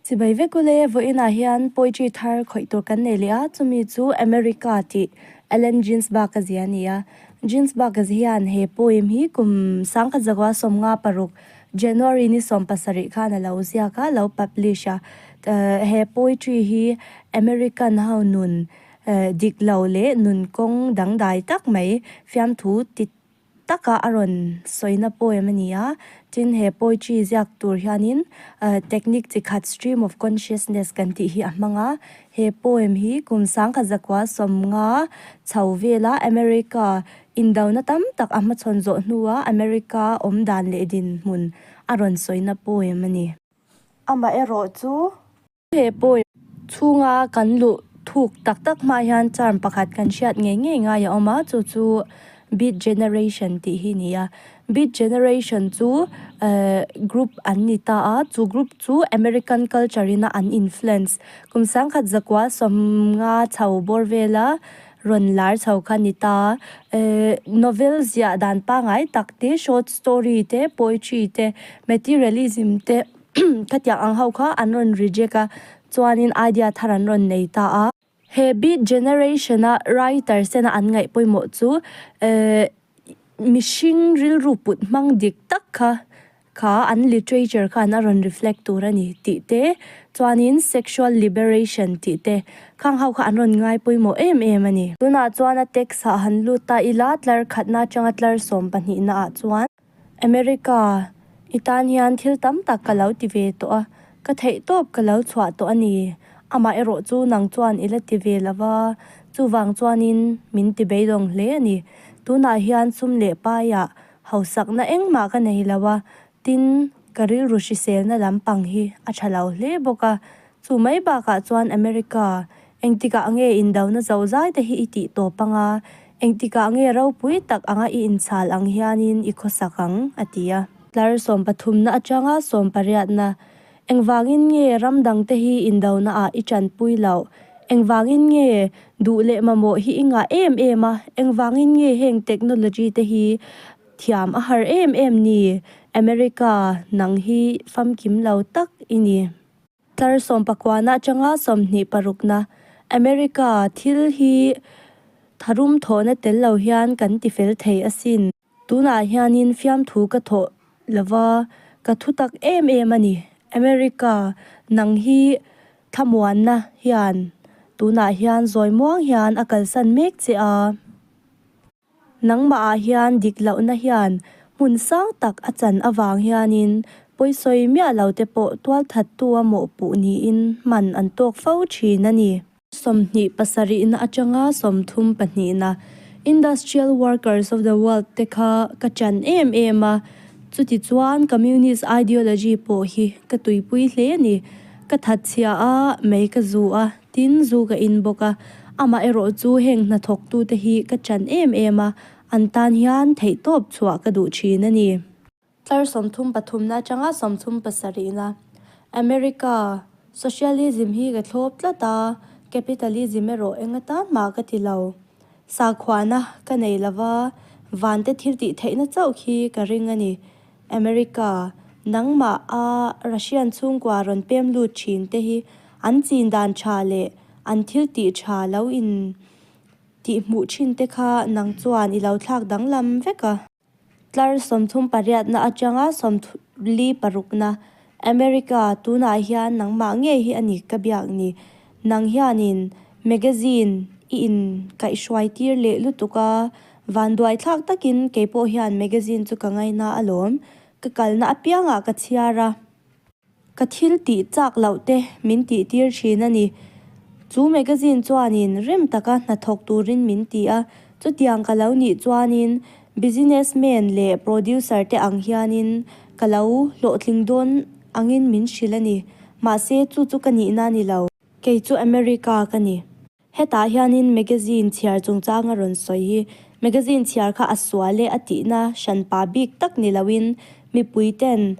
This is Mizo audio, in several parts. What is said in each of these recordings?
Chibai vek u le, vawiinah hian poetry thar khawih tur kan nei leh a, chumi chu America tih Allen Ginsberg a zia a ni a. Ginsberg hian he poem hi kum sangkhat zauha sawmnga paruk, January ni sawm pasarih khan a lo ziak a, a lo publish a. He poetry hi American ho nun dik lo leh nun kawng dangdai tak mai fiamthu ti taka a rawn sawina poem a ni a, tin he poetry ziak tur hianin technique chi khat stream of consciousness kan tih hi a hmang a, he poem hi kum sangkhat zakua sawmnga chho vela America indona tam tak a hmachhawn zawh hnua America awmdan leh dinhmun a rawn sawina poem a ni. Amaherawhchu He point chhunga kan luh thuk tak tak hmaah hian charm pakhat kan hriat ngei ngei ngai a awm a, chu chu Beat Generation tih hi ni a. Beat Generation chu ehh group an ni ta a, chu group chu American culture in a an influence. Kum sangkhat zakua sawmnga chho bawr vela rawn lar chho kha a ni ta a. Ehh novel ziah dan pangngai tak te, short story te, poetry te, materialism te. Khatiang ang ho kha an rawn reject a, chuanin idea thar an rawn nei ta a. He Beat Generation-a writer sena an ngaih pawimawh chu mihring rilru put hmang dik tak kha kha an literature khan a rawn reflect tur a ni tih te, chuanin sexual liberation tih te khang ho kha an rawn ngai pawimawh em em a ni. Tunah chuan a text-ah han lut a, ila tlar khatna atanga tlar sawm pahnihna ah chuan. America, I tan hian thil tam tak ka lo ti ve tawh a, ka theih tawp ka lo chhuah tawh a ni. Amah erawh chu nang chuan i la ti ve lo va, chuvang chuanin min ti beilawng hle a ni. Tunah hian sum leh paiah hausakna engmah ka nei lo a, tin ka rilru hriselna lampang hi a tha lo hle bawk a. Chu mai bakah chuan America, Engtikah nge indona zohzai te hi i tih tawp anga, engtikah nge ropui tak anga i inchhal ang hianin i khawsak ang? a ti a. Tlar sawm pathumna atanga sawm pariatna, Engvangin nge ram dangte hi indonaah i tanpui loh? Engvangin nge duh leh mamawh hi i ngah em em a? Engvangin nge heng technology te hi thiam a har em em ni? America, nang hi famkim lo tak i ni. Tlar sawmpakuana atanga sawmhnih parukna America thil hi tharum thawhna tel lo hian kan ti fel thei asin. Tunah hianin fiamthu ka thawh lova, ka thutak em em a ni. America nang hi thlamuanna hian tunah hian zawimuang hian a kalsan mek che a. Nangmahah hian dik lohna hian hmun sang tak a chan avang hianin pawisawi miah lote pawh tualthattu a mawhpuh niin hman an tawk fo thin a ni. Sawmhnih pasarihna atanga sawmthum pahnihna, Industrial Workers of the World, te kha ka chan em em a, chutichuan Communist ideology pawh hi ka tuipui hle a ni. Ka that chhia a mei ka zuh a, Tin, zu ka in bawk a, amah erawh chu heng hnathawktute hi ka chan em em a, an tan hian theihtawp chhuah ka duh thin a ni. Tlar sawmthum pathumna atanga sawmthum pasarihna, America, Socialism hi ka thlawp tlat a, Capitalism erawh enga tan mah ka ti lo. Sakhuana ka nei lova, vante thiltih theihna chauh khi ka ring a ni. America, nangmah a Russian chhungkua rawn pem lut thin te hi an chin dan tha leh an thil tih tha lo in tih hmuh thin te kha nang chuan i lo thlak danglam vek a. Tlar sawmthum pariatna atanga sawmthum li parukna America, Tunah hian nangmah nge hi a ni ka biak ni? Nang hianin magazine i inkaihhruai tir leh lutuk a, vanduaithlak takin kei pawh hian magazine chu ka ngaina a lawm. Ka kalna apiangah ka chhiar a, ka thil tih chak loh te min tihtir thin a ni. Chu magazine chuanin rem taka hnathawk turin min ti a, chutiang ka lo nih chuanin Business man leh producer te ang hianin ka lo hlawhtling dawn angin min hrilh a ni. Mahse, chu chu ka nihna a ni lo. Kei chu America ka ni. Hetah hianin magazine chhiar chungchang a rawn sawi hi. Magazine chhiar kha a sual e a tihna hran pa bik tak ni loin mipui ten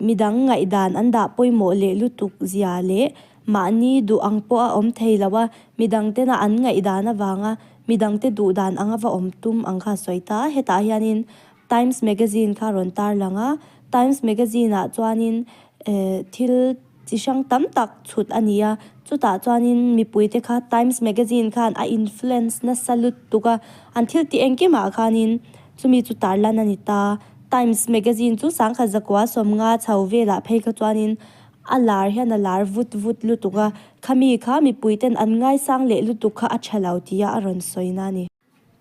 midang ngaihdan an dah pawimawh leh lutuk zia leh Mahni duh ang pawh a awm thei lo a, midang tena an ngaihdan avanga midang te duh dan anga va awm tum ang kha sawi ta a, hetah hianin Times Magazine kha rawn tar lang a, Times Magazine ah chuanin eh thil chi hrang tam tak chhut a ni a, chutah chuanin mipui te kha Times Magazine khan a influence nasa lut tuk a, an thil tih engkimah khanin chumi chu tar lan a ni ta. Times Magazine chu sangkhat zakua sawmnga chho velah phei kha chuanin A lar hian a lar vut vut lutuk a, khami kha mipui ten an ngaisang leh lutuk kha a tha lo tia a rawn sawina a ni.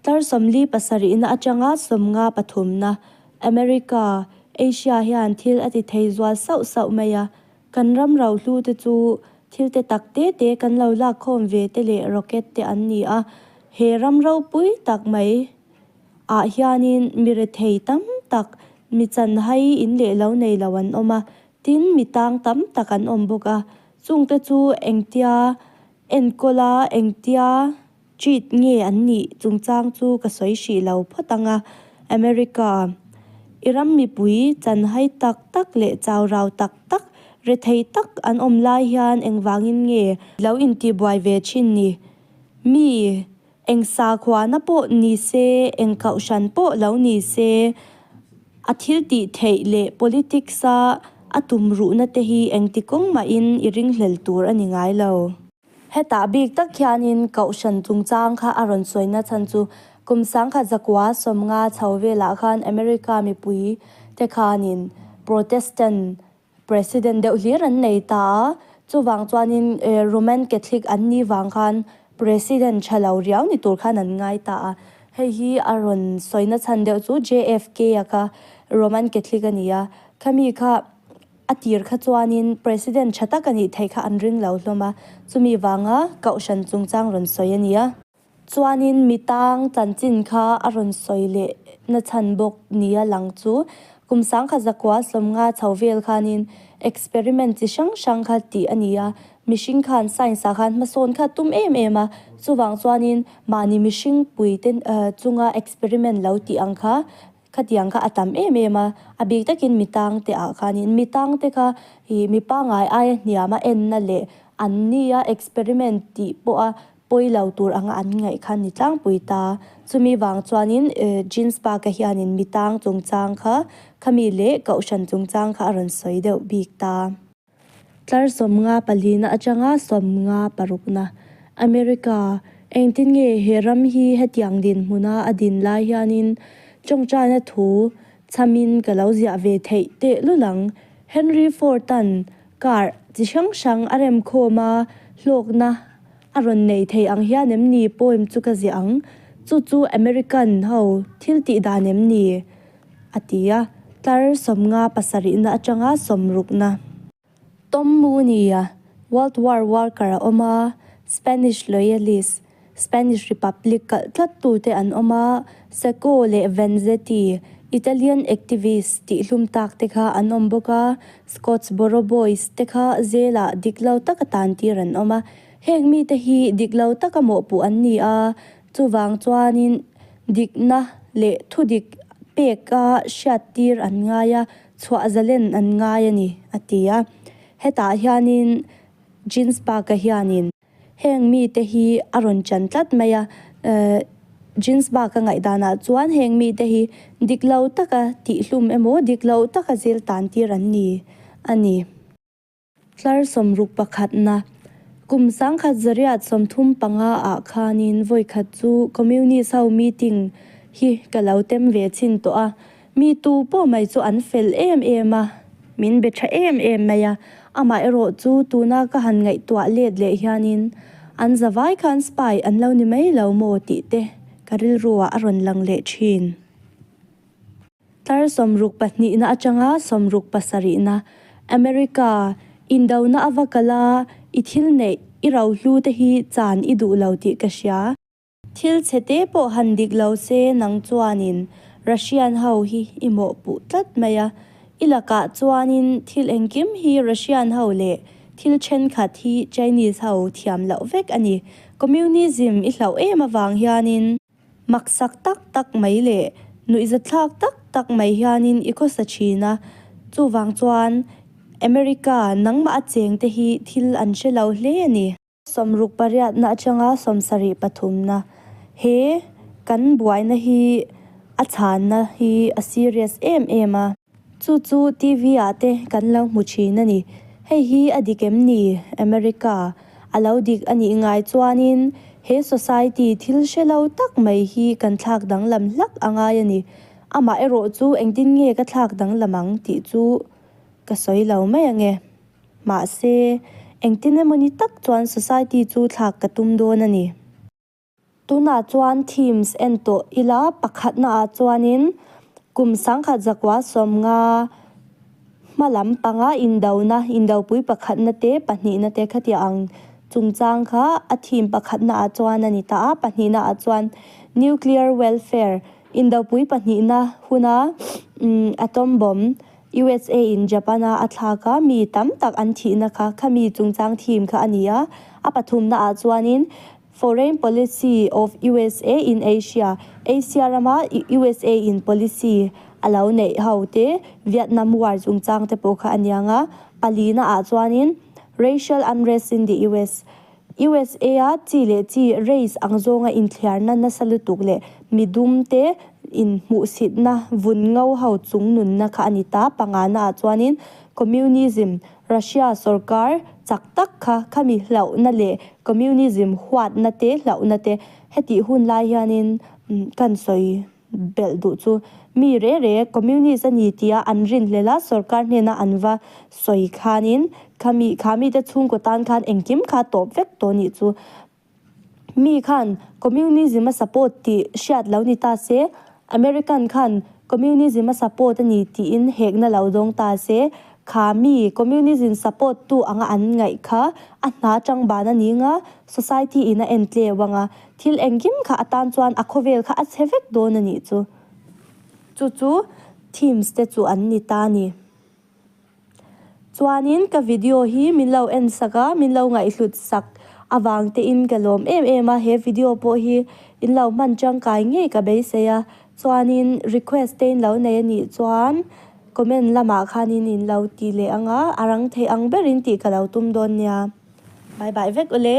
Tlar sawmli pasarihna atanga sawmnga pathumna, America, Asia hian thil a ti thei zual sauh sauh mai a, kan ram rauhlu te chu thilte tak te te kan lo lak khawm ve te leh rocket te an ni a, he ram ropui tak mai ah hianin mi rethei tam tak, mi chanhai in leh lo nei lo an awm a, Tin, mi tang tam tak an awm bawk a, chungte chu engtia enkawl a, engtia cheat nge an nih chungchang chu ka sawi hrih lo phawt ang a. America i ram mipui chan hai tak tak leh chau rau tak tak, rethei tak an awm lai hian engvangin nge lo intibuai ve thin ni? Mi Eng sakhuana pawh ni se, eng kauhran pawh lo ni se, a thil tih theih leh politics a a tum ruhna te hi engti kawng mahin i ringhlel tur a ni ngai lo. Hetah bik tak hianin Kauhran chungchang kha a rawn sawi nachhan chu kum sangkhat zakua sawmnga chho velah khan America mipui te khanin Protestant President deuh hlir an nei ta a, chuvang chuanin Roman Catholic an ni vang khan President tha lo riau ni tur khan an ngai ta a. Hei hi a rawn sawi na chhan deuh chu JFK a kha Roman Catholic a ni a, khami kha a tir kha chuanin President tha tak a nih theih kha an ring lo hlawm a, chumi vanga Kohhran chungchang rawn sawi a ni a. Chuanin mi tang chanchin kha a rawn sawi leh nachhan bawk nia lang chu. Kum sangkhat zakua hlawm nga chho vel khanin experiment chi hrang hrang kha tih a ni a. Mihring khan science ah khan hmasawn kha tum em em a. Chuvang chuanin mahni mihring puite chunga experiment lo tih ang kha. Khatiang kha a tam em em a, a bik takin mi tangte ah khanin mi tangte kha ih mi pangai aia hniam a enna leh an ni a experiment tih pawh a pawi lo tur anga an ngaih khan ni tlangpui ta. Chumi vang chuanin Jeans Park a hianin mi tang chungchang kha khami leh Kohhran chungchang kha a rawn sawi deuh bik ta. Tlar sawm nga palina atanga sawm nga parukna. America, engtin nge he ram hi hetiang dinhmuna a din lai hianin tawngtaina thu chamin ka lo ziah ve theih teh lul ang. Henry Ford-a'n car chi hrang hrang a rem khawm a, hlawkna a rawn nei thei ang hian em ni poem chu ka ziah ang, chu chu American ho thiltih dan em ni? a ti a, tlar sawmnga pasarihna atanga sawm rukna. Tom Mooney-a World War Worker a awm a, Spanish Loyalist, Spanish Republic kalh tlat tu te an awm a, Seco leh Vanzetti, Italian Activists tih hlum tak te kha an awm bawk a, Scottsboro Boys te kha zelah dik lo taka tantir an awm a, hêng mite hi dik lo taka mawhpuh an ni a, Chuvang chuanin dikna leh thudik pek a hriattir an ngai a, chhuah zalen an ngai a ni, a ti a. Hetah hianin Jeans baka hianin heng mite hi a rawn chan tlat mai a. Jeans baka ngaihdanah chuan heng mite hi dik lo taka tihhlum emaw dik lo taka zêl tân tir an ni a ni. Tlar sawmruk pakhatna, Kum sangkhat zariat sawmthum panga ah khanin vawikhat chu Communist ho meeting hi ka lo tem ve chin tawh a, mi tu pawh mai chu an fel em em a, min be tha em em mai a, amaherawh chu tuna ka han ngaihtuah let leh hianin an za vai khan spy an lo ni mai lo maw tih te ka rilru ah a rawn lang leh thin. Tlar sawmruk pahnihna atanga sawmruk pasarihna, America, indohna a va kal a, i thil neih, i rohlu te hi chan i duh lo tih ka hria. Thil chhe te pawh han dik lo se nang chuanin Russian ho hi i mawhpuh tlat mai a, i lakah chuanin thil engkim hi Russian ho leh thil thenkhat hi Chinese ho thiam loh vek a ni. Communism i hlauh em avang hianin, Maksak tak tak mai leh nuihza thlak tak tak mai hianin i khawsa thin a. Chuvang chuan America nangmah a chengte hi thil an hre lo hle a ni. Sawmruk pariatna atanga sawm sarih pathumna, he kan buaina hi a chhanna hi a serious em em a. Chu chu TV ah te kan lo hmu thin a ni. Hei hi a dik em ni? America a lo dik a nih ngai chuanin he society thil hre lo tak mai hi kan thlak danglam hlak a ngai a ni. Amah erawh chu engtin nge ka thlak danglam ang tih chu ka sawi lo mai ang e. Mahse, engtin emawni tak chuan society chu thlak ka tum dawn a ni. Tunah chuan Teams en tawh ila pakhatnaah chuanin kum sangkhat zakua sawm nga hma lam panga indona, indopui pakhatna te pahnihna te khatia ang chungchang kha a thim pakhatnaah chuan a ni ta a, pahnihnaah chuan Nuclear Welfare, indopui pahnihna huna Atom Bomb, usa in Japan a a thlak a mi tam tak an thihna kha khami chungchang thim kha a ni a, a pathumnaah chuanin Foreign Policy of usa in Asia, Asia rama usa in policy a lo neih ho te Vietnam war chungchang te pawh kha a niang a, pali na ah chuanin Racial unrest in the US, usa a chi leh chi race ang zawnga inthliar na nasa lutuk leh mi dum te in hmuhsit na vun ngo ho chung nun na kha a ni ta, panga na ah chuanin Communism Russia sorkar chak tak kha khami hlauhna leh communism huatna te hlauhna te hetih hun lai hianin kan sawi belh duh chu mi re re communist a ni tia an rin hlel a sorkar hnena an va sawi khanin khami khami te chhungkaw tan khan engkim kha tawp vek tawh nih chu Mi khan Communism a support tih hriat lo ni ta se, American khan Communism a support a ni tiin hek na lo zawng ta se. Kha mi Communism support tu anga an ngaih kha a hna chang ban a ning a, society in a en tleu ang a. Thil engkim kha atan chuan a khawvel kha a chhe vek dawn a nih chu. Chu chu themes te chu an ni ta a ni. Chuanin ka video hi min lo en sak a, min lo ngaihhlut sak avang te in ka lawm em em a, he video pawh hi in lo hman tangkai ngei ka beisei a, chuanin request te in lo nei a nih chuan comment lamah khanin in lo ti leh ang a, a rang theih ang berin tih ka lo tum dawn nia. Bye bye vek u le.